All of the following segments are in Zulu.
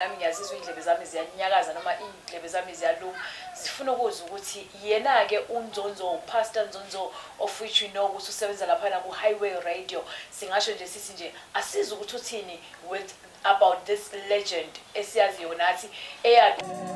nami ngiyazizwa iy'ndlebe zami ziyanyakaza noma iy'ndlebe zami ziyaluma zifuna ukuzwa ukuthi yena-ke unzonzo upastor nzonzo of which we know ukuthi usebenza laphana ku-highway radio singasho nje sithi nje asizi ukuthi uthini with about this legend esiyaziyo nathi eya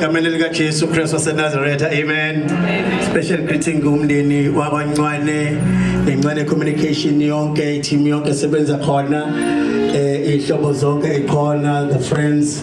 egameni likaJesu Kristu waseNazaretha amen special greeting kumndeni wakwancwane nencwane communication yonke i-team yonke sebenza khona eh ihlobo zonke ikhona the friends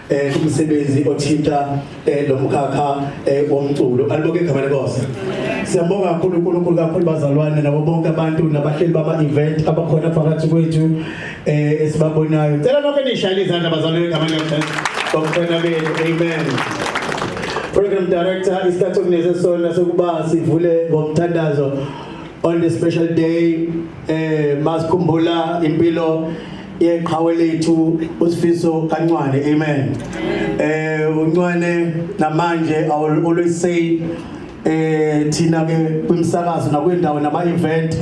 eh umsebenzi othinta eh lo mkhakha eh womculo aliboke igama lenkosi siyabonga kakhulu uNkulunkulu kakhulu bazalwane nabo bonke abantu nabahleli bama event abakhona phakathi kwethu eh esibabonayo ngicela nonke nishayele izandla bazalwane igama lenkosi bakhona benu amen program director isikhathi okuneze sona sokuba sivule ngomthandazo on the special day eh masikhumbula impilo yeqhawe lethu usifiso kancwane amen eh uncwane namanje i will always say eh thina ke kwimsakazo nakwendawo nama event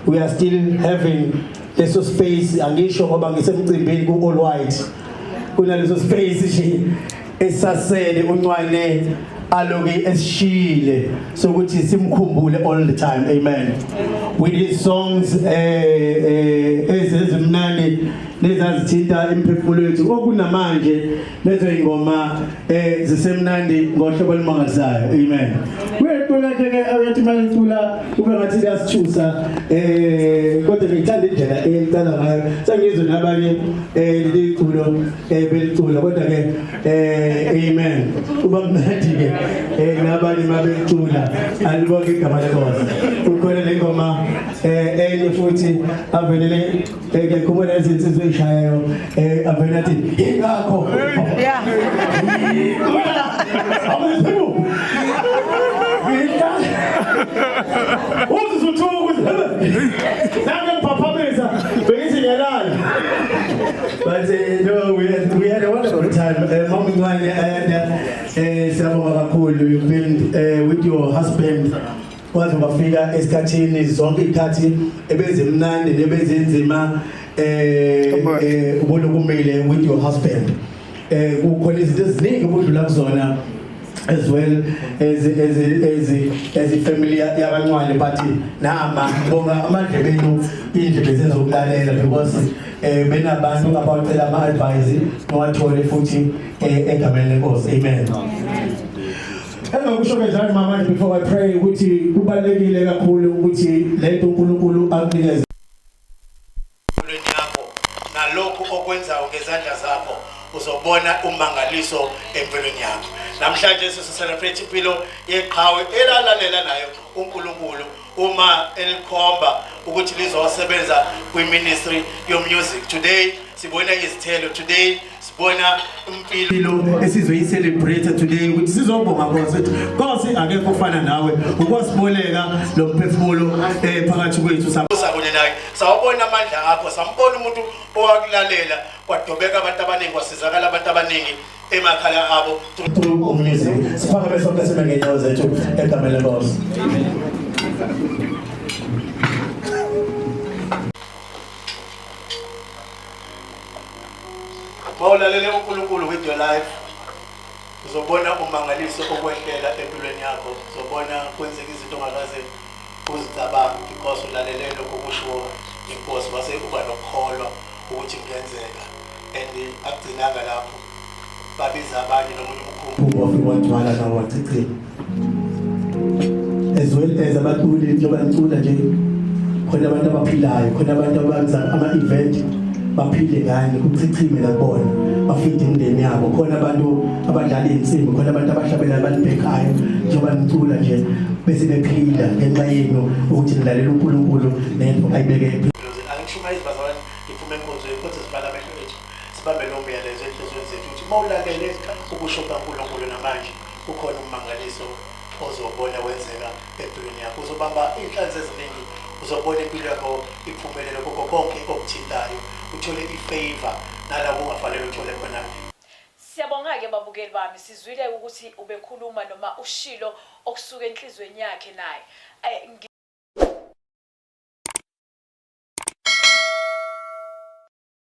we are still having leso space angisho ngoba ngisemcimbini ku all white kunaleso space nje esasele uncwane aloke esishile sokuthi simkhumbule all the time amen with his songs eh, eh, ezezimnani nezazithinta imiphefumulo yethu okunamanje lezo ingoma eh, zisemnandi ngohlobo olumangalisayo amen kuyecula ke ke abethi manicula kube ngathi kuyasithusa eh kodwa ngithanda indlela elicala ngayo sengizwe nabanye eh liculo eh belicula kodwa ke eh amen uba mnandi ke eh nabanye mabelicula alibonke igama lenkosi ukhona le ngoma eh enye futhi avelele eh, ke khumula izinsizwe ezishayayo eh avela athi ingakho yeah abezimu ngidla uzizuthuku zebe But uh, no, we had, we had a wonderful time. Uh, Mom Ngwane, uh, siyabonga kakhulu you build uh, with your husband kwaze kwafika esikhathini zonke ikhathi ebenze mnandi nebenze nzima eh, eh ubona kumile with your husband eh kukhona izinto eziningi obudlula kuzona as well as as as as ifamily yakancwane but nama bonga amadlebe enu indlebe zezokulalela because eh benabantu abacela ama advice nowathole futhi eh, egameni lenkosi amen Engakusho kanjani mama before I pray ukuthi kubalekile kakhulu ukuthi lento uNkulunkulu akunikeze Empilweni yakho nalokhu okwenzayo ngezandla zakho uzobona umangaliso empilweni yakho. Namhlanje sisi celebrate impilo yeqhawe elalalela nayo uNkulunkulu uma elikhomba ukuthi lizosebenza kwi ministry yo music. Today sibona izithelo today sibona impilo esizoyicelebrate today ukuthi sizobonga konse konse akekho ofana nawe ukwasiboleka lo mphefumulo eh, phakathi kwethu sabone naye sawabona amandla akho sambona umuntu owakulalela kwadobeka abantu abaningi kwasizakala abantu abaningi emakhaya abo umnizi siphakame sonke sibe ngenyawo zethu egameni lenkosi Mawulalele uNkulunkulu with your life uzobona umangaliso okwehlela empilweni yakho uzobona kwenzeka izinto ongakaze uzicabange because ulalele lokho kushiwo inkosi wase uba nokukholwa ukuthi kungenzeka and akugcinanga lapho babiza abanye nomuntu umkhumbu wafika wathwala nawo wachichima as well as abaculi njengoba ngicula nje khona abantu abaphilayo khona abantu abenza ama-event baphile ngani kuchichime lakubona bafide imindeni yabo khona abantu abadlala iy'nsimbi khona abantu abahlabela balibhekayo njengoba ngicula nje bese bephila ngenxa yenu ukuthi nilalela unkulunkulu nento ayibeke empilweni angishuma izibazalwane ngiphume enkonzweni kodwa zibhala amehlo ethu Sibambe lowo myalezo ezinhliziyweni zethu ukuthi uma ulalele ukusho kukaNkulunkulu namanje, kukhona ummangaliso ozowubona wenzeka empilweni yakho. Uzobamba iy'nhlanzi eziningi, uzobona impilo yakho iphumelela kukho konke okuthintayo, uthole i-favour nalapho ungafanele uthole khona. Siyabonga-ke babukeli bami, sizwile ukuthi ubekhuluma noma ushilo okusuka enhliziyweni yakhe naye. Ay, ngi.